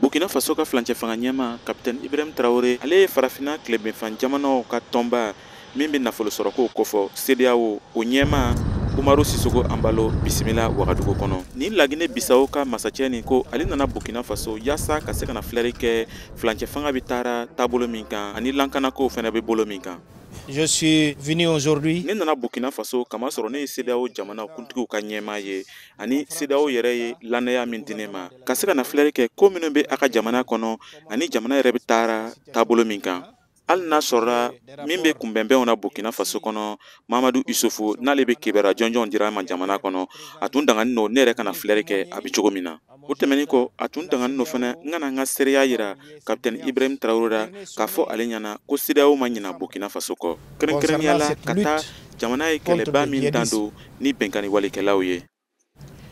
burkina faso ka filancɛ fanga ɲɛma kapitɛni ibrahim tarawele ale ye farafina tilebinfan jamanaw ka tɔnba min bɛ nafolo sɔrɔkow kofɔ sedeyawo o ɲɛma umaru sisoko anbalo bisimila wagadugu kɔnɔ nin lagine bisawo ka masacɛ nin ko ale nana burkina faso yaasa ka se ka na filɛri kɛ filancɛ fanga bɛ taara taabolo min kan ani lankanakow fɛnɛ bɛ bolo min kan Je suis venu aujourd'hui. Ne nana Burkina Faso k'a masɔrɔ ne ye CEDEAO jamana kuntigiw ka ɲɛmaa ye ani CEDEAO yɛrɛ ye lannaya min di ne ma ka se ka na filɛri kɛ ko minnu bɛ a ka jamana kɔnɔ ani jamana yɛrɛ bɛ taara taabolo min kan hali n'a sɔrɔla min bɛ kunbɛnbɛnw na Burkina Faso kɔnɔ Mamadu Isufu n'ale bɛ kibaruya jɔnjɔnw dira an ma jamana kɔnɔ a tun danganin don ne yɛrɛ ka na filɛri kɛ a bɛ cogo min na. o tɛmɛnin kɔ a tun danganin don fana n ka na n ka seereya yira kapitɛni ibrahim tarawele la k'a fɔ ale ɲɛna ko sedeyawo ma ɲina burkina faso kɔ kɛrɛnkɛrɛnnenya la ka taa jamana ye kɛlɛba min dan don ni binkanni walekɛlaw ye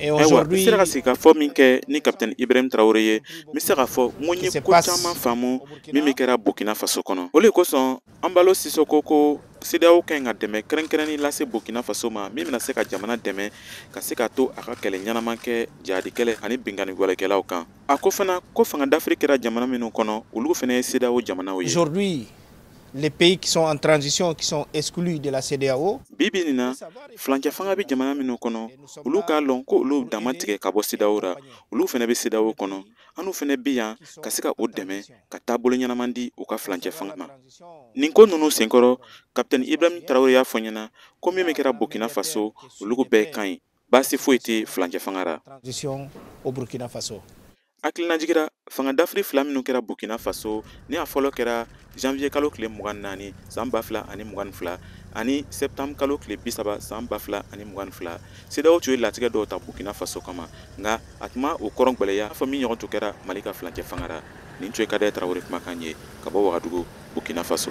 ayiwa n sera ka sigikafɔ min kɛ ni kapitɛni ibrahim tarawele ye n bɛ se k'a fɔ n ko n ye ko caman faamu min bɛ kɛra burkina faso kɔnɔ o de kosɔn Anbalo Sisoko ko CEDEAO ka ɲi ka dɛmɛ kɛrɛnkɛrɛnnin lase Burkina Faso ma min bɛna se ka jamana dɛmɛ ka se ka to a ka kɛlɛ ɲɛnama kɛ jihadi kɛlɛ ani binkanni walekɛlaw kan. A ko fana ko fanga dafiri kɛra jamana minnu kɔnɔ olu fana ye CEDEAO jamanaw ye. Aujourd'hui, les pays qui sont en transition qui sont exclus de la CEDEAO. Bi bi nin na, filancɛ fanga bɛ jamana minnu kɔnɔ olu k'a lɔn ko olu dan ma tigɛ ka bɔ CEDEAO ra, olu fana bɛ CEDEAO kɔnɔ. an n'u fana bɛ yan ka se ka u dɛmɛ ka taabolo ɲɛnaman di u ka filancɛ fanga ma nin ko ninnu senkɔrɔ kapitɛni ibrahim tarawele y'a fɔ ɲɛna ko min bɛ kɛra burkina faso olugu bɛɛ ka ɲi baasi foyi tɛ filancɛ fanga ra hakilinajigi ra fanga dafiri fila minnu kɛra burkina faso ni a fɔlɔ kɛra janvier kalo tile mugan naani san ba fila ani mugan fila ani septembre kalo tile bi saba san ba fila ani mugan fila sedeyawo tun ye latigɛ dɔw ta burkina faso kama nka a tun ma o kɔrɔ gwɛlɛya fɔ min ɲɔgɔn tun kɛra mali ka filancɛ fanga ra nin tun ye kadɛ tarawele kumakan ye ka bɔ wagadugu burkina faso